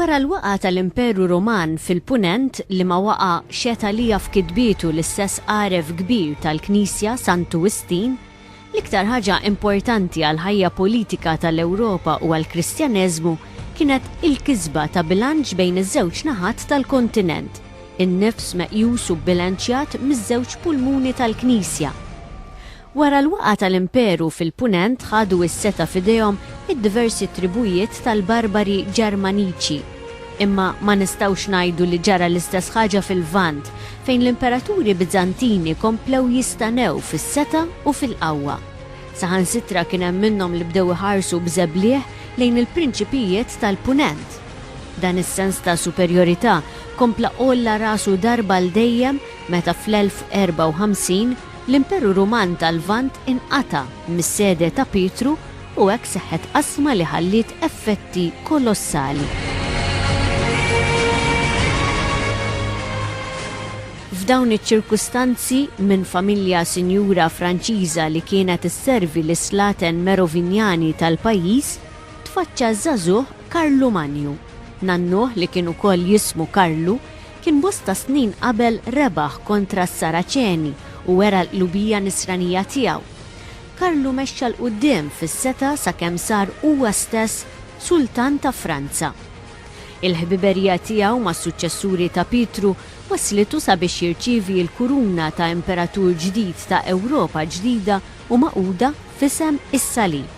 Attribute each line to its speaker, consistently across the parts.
Speaker 1: Wara l-waqgħa tal-Imperu Ruman fil-Punent li ma waqa' xeta' li jaf kitbietu l-istess għaref kbir tal-Knisja Santu Wistin, L-iktar ħaġa importanti għall-ħajja politika tal-Ewropa u għall-Kristjaneżmu kienet il-kisba ta' bilanċ bejn iż-żewġ naħat tal-kontinent, in-nifs meqjus u bbilanċjat miż-żewġ pulmuni tal-Knisja. Wara l-waqgħa tal-Imperu fil-Punent ħadu s-setgħa f'idejhom id-diversi tribujiet tal-barbari Ġermaniċi. Imma ma nistgħux ngħidu li ġara l-istess ħaġa fil-Lvant, fejn l-imperaturi Biżantini komplew jistanew fis-setgħa u fil-qawwa. Saħansitra kien hemm minnhom li bdew iħarsu b'żeblieħ lejn il-prinċipijiet tal-Punent. Dan is-sens ta' superjorità kompla għolla rasu darba għal dejjem meta fl-1054, L-Imperu Ruman tal-Lvant inqata' mis-sede ta' Pietru u hekk seħħet qasma li ħalliet effetti kolossali. F'dawn iċ-ċirkustanzi, minn familja sinjura Franċiża li kienet isservi lis-slaten Merovinjani tal-pajjiż, tfaċċa ż-żagħżugħ Karlu Manju. Nannuh li kien ukoll jismu Karlu, Kien bosta snin qabel rebaħ kontra s-Saraċeni u wera l-qlubija Nisranija tiegħu. Karlu mexxa 'l quddiem fis-setgħa sakemm sar huwa stess Sultan ta' Franza. Il-ħbiberija tiegħu mas-suċċessuri ta' Pietru wasslitu sabiex jirċievi l-kuruna ta' imperatur ġdid ta' Ewropa ġdida u magħquda f'isem is-Salib.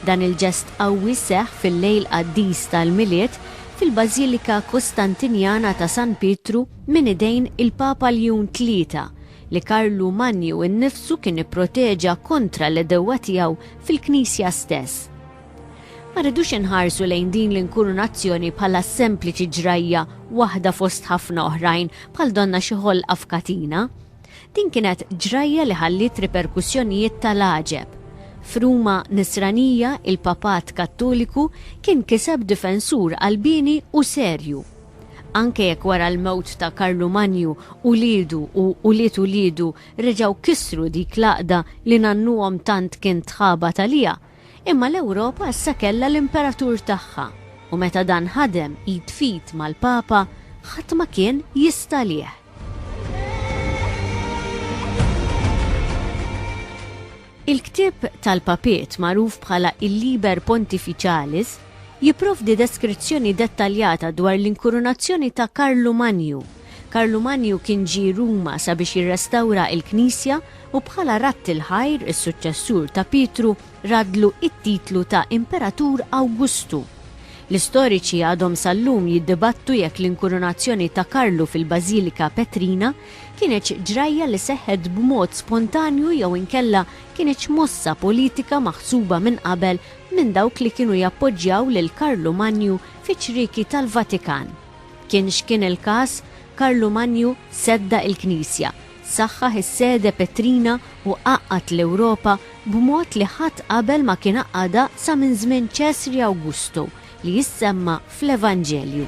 Speaker 1: Dan il-ġest qawwi seħħ fil-lejl qaddis tal-Milied fil-Bażilika Kostantinjana ta' San Pietru minn idejn il-Papa Ljun Tlieta, li Karlu Manju innifsu kien ipproteġa kontra l-għedewwa tiegħu fil-Knisja stess. Ma rridux inħarsu lejn din l-inkurunazzjoni bħala sempliċi ġrajja waħda fost ħafna oħrajn bħal donna xi ħolqa f'katina. Din kienet ġrajja li ħalliet riperkussjonijiet tal-għaġeb. F'Ruma Nisranija, il-Papat Kattoliku kien kiseb difensur qalbieni u serju. Anke jekk wara l-mewt ta' Karlu Manju uliedu u ulied uliedu reġgħu kissru dik l-għaqda li nannuhom tant kien tħabat għaliha, Imma l-Ewropa issa kellha l-imperatur tagħha u meta dan ħadem id f'id mal-Papa ħadd ma kien jista' għalih. Il-ktieb tal-papiet magħruf bħala il-Liber Pontificalis jipprovdi deskrizzjoni dettaljata dwar l-inkurunazzjoni ta' Karlu Manju, Karlu Manju kien ġie Ruma sabiex jirrestawra il-knisja u bħala radd il-ħajr is-suċċessur ta' Pietru radlu it-titlu ta' Imperatur Awgustu. L-istoriċi għadhom sal-lum jiddibattu jekk l-inkurunazzjoni ta' Karlu fil-Bażilika Petrina kienetx ġrajja li seħħet b'mod spontanju jew inkella kienetx mossa politika maħsuba minn qabel minn dawk li kienu jappoġġjaw lil Karlu Manju fiċ-ċrieki tal-Vatikan. Kien x'kien il-każ, Karlu Manju seddaq il-Knisja, saħħaħ is-sede Petrina u għaqqad l-Ewropa b'mod li ħadd qabel ma kien għaqqadha sa minn żmien Ċesri Awgustu li jissemma fl-Evanġelju.